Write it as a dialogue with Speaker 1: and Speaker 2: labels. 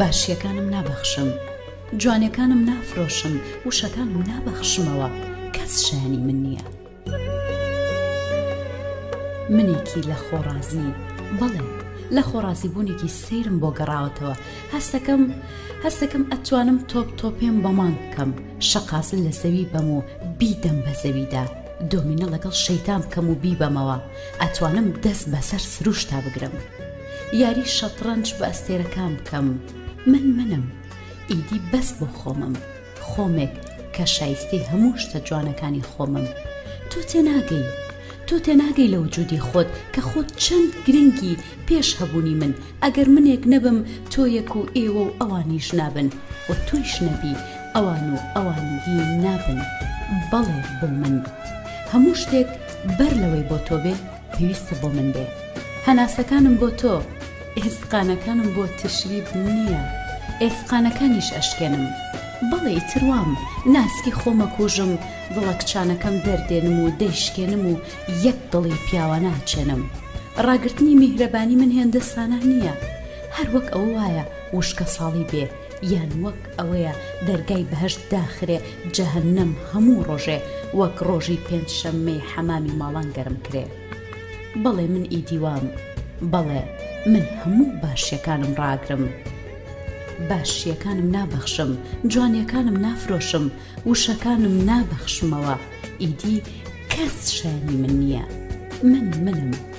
Speaker 1: باشیەکانم نابەخشم جوانیەکانم نافرۆشم وشەکانم نابەخشمەوە کەس شایەنی من نیە منێکی لە خۆ ڕازی بەڵێ لە خۆ ڕازی بونێکی سەیرم بۆ گەڕاوەتەوە هەستەکەم هەستەکەم ئەتوانم تۆپ تۆپێم بە مانگ بکەم شەقاسل لە زەوی بەم و بیدەم بە زەویدا دۆمینە لەگەڵ شەیتان بکەم و بیبەمەوە ئەتوانم دەست بەسەر سروشتا بگرم. یاری شەتڕەنج بە ئەستێرەکان بکەم من منم ئیدی بەس بۆ خۆمم خۆمێک کە شایستەی هەموو شتە جوانەکانی خۆمم تۆ تێناگەی تۆ تێناگەی لە وجودی خۆت کە خۆت چەند گرنگی پێش هەبوونی من ئەگەر منێک نەبم تۆیەک و ئێوە و ئەوانیش نابن و تۆیش نەبی ئەوان و ئەوانگی نابن بەڵێ بۆ من هەموو شتێک بەر لەوەی بۆ تۆ بێ پێویستە بۆ من بێ هەناسەکانم بۆ تۆ ئێسقانەکانم بۆ تشریب نییە ئێسقانەکانیش ئەشکێنم بەڵێ ئیتر وام ناسکی خۆم ئەکوژم دڵە کچانەکەم دەردێنم و دەیشکێنم و یەک دڵی پیاوانە ئەچێنم ڕاگرتنی میهرەبانی من هێندە ساناح نییە هەر وەک ئەوە وایە وشکەساڵی بێ یان وەک ئەوەیە دەرگای بەهەشت داخرێ جەهەنەم هەموو ڕۆژێ وەک ڕۆژی پێنج شەممەی حەمامی ماڵان گەرم کرێ بەڵێ من ئیدی وام بەڵێ من هەموو باشیەکانم ڕاگرم باشیەکانم نابەخشم جوانیەکانم نافرۆشم وشەکانم نابەخشمەوە ئیدی کەس شایەنی من نیە من منم.